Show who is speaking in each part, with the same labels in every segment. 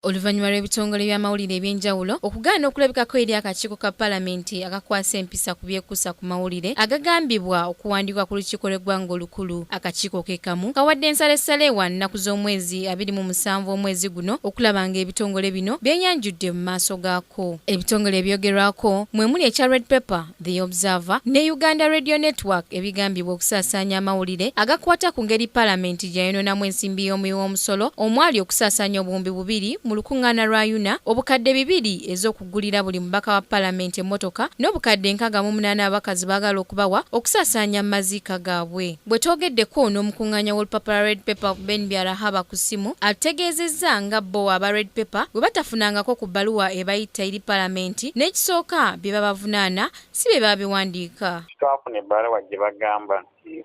Speaker 1: oluvannyuma lw'ebitongole by'amawulire eby'enjawulo okugaana okulabikako eri akakiiko ka palamenti akakwasa empisa ku byekuusa ku mawulire agagambibwa okuwandiikwa ku lukiiko lw'eggwanga olukulu akakiiko ke kamu kawadde ensalessale wa nnaku z'omwezi abiri mu musanvu omwezi guno okulaba nga ebitongole bino byeyanjudde mu maaso gaako ebitongole ebyogerwako mwe muli ekya red paper The Observer ne Uganda Radio Network ebigambibwa okusaasaanya amawulire agakwata ku ngeri palamenti gye yayonoonamu ensimbi y'omuwi w'omusolo omwali okusaasaanya obuwumbi bubiri mu lukuŋŋaana lwa UNA, obukadde bibiri ez'okugulira buli mubaka wa palamenti emmotoka n'obukadde nkaaga mu munaana ababaka ze baagala okubawa okusaasaanya maziika gaabwe. Bwe twogeddeko n'omukung'aanya w'olupapala lwa Red Pepper, Ben Byarahaba ku ssimu, atutegeezezza nga bbo aba Red Pepper bwe batafunangako ku bbaluwa ebayitta eri Palamenti n'ekisooka bye babavunaana si be babiwandiika. Tetwafuna ebbaluwa
Speaker 2: gye bagamba nti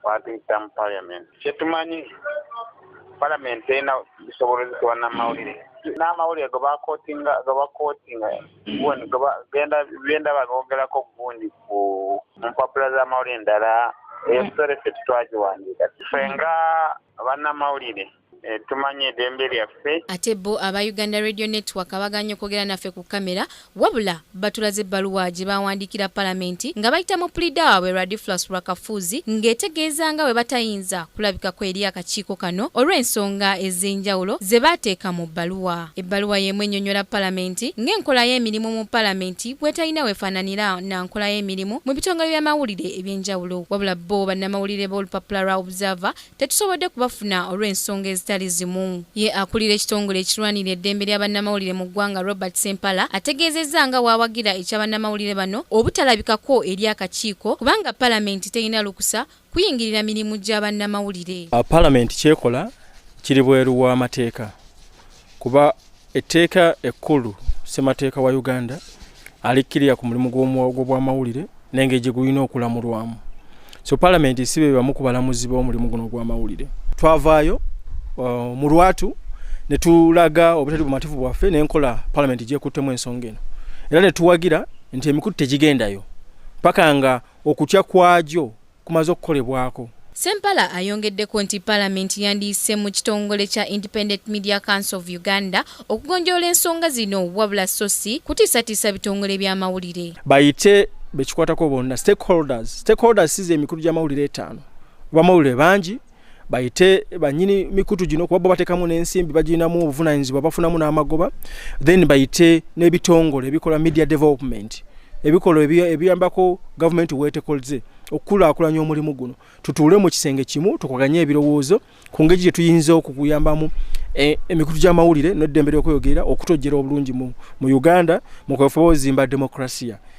Speaker 2: baatuyita mu Palamenti. Kye tumanyi Palamenti terina busobolozi ku bannamawulire. N'amawulire ge bakootinga, ge bakootinga, ge ndaba googerako gundi. ku mpapula z'amawulire endala eyo sitore ffe tetwagiwandiika ffe nga bannamawulire Eh, tumanye eddembe lyaffe ate bo aba
Speaker 1: uganda radio network abaganye okwogera naffe ku kamera wabula batulaze ebbaluwa gye bawandiikira palamenti nga bayita mu pulida waabwe radiflas rwakafuuzi ng'etegeeza nga bwe batayinza kulabikako eri akakiiko kano olw'ensonga ez'enjawulo ze baateeka mu bbaluwa Ebbaluwa y'emu ennyonnyola Palamenti ng'enkola y'emirimu mu Palamenti bw'etalina w'efaananira na nkola y'emirimu mu bitongole by'amawulire eby'enjawulo wabula bbo bannamawulire b'olupapula lwa Observer tetusobodde kubafuna olw'ensonga ezitali zimu. Ye akulira ekitongole ekirwanirira eddembe lya bannamawulire mu ggwanga Robert Ssempala ategeezezza nga bw'awagira ekya bannamawulire bano obutalabikako eri akakiiko kubanga Palamenti terina lukusa kuyingirira mirimu gya bannamawulire. Uh, Palamenti kyekola
Speaker 3: kiri bweru w'amateeka kuba etteeka ekkulu ssemateeka wa Uganda alikkirira ku mulimu gw'obwamawulire nenge gye gulina okulamulwamu so palamenti si be bamu ku balamuzi b'omulimu guno ogw'amawulire twavaayo uh, mu lwatu ne tulaga obutali bumativu bwaffe n'enkola palamenti gyekuttemu ensonga eno era ne tuwagira nti emikutu tegigendayo paka nga okutya kwagyo kumaze okukolebwako. Sempala
Speaker 1: ayongeddeko nti palamenti yandiyise mu kitongole kya Independent Media Council of Uganda okugonjoola ensonga zino wabula so si kutiisatiisa bitongole by'amawulire. Bayite
Speaker 3: bekikwatako bonna stakeholders stakeholders size emikulu gy'amawulire etaano bamawulire bangi bayite banyini mikutu gino kuba bo batekamu n'ensimbi bagirinamu obuvunanyizibwa bafunamu n'amagoba then bayite n'ebitongole ebikola media development ebikolwa ebiyambako gavumenti weetekolze okukulaakulanya omulimu guno tutuule mu kisenge kimu tukuganye ebirowoozo ku ngeri gye tuyinza okukuyambamu e, emikutu gy'amawulire n'eddembe ly'okweyogerera okutojjera obulungi mu uganda mu kwefuba ozimba demokrasiya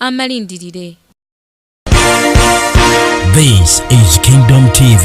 Speaker 1: amalindirire
Speaker 4: This is Kingdom TV.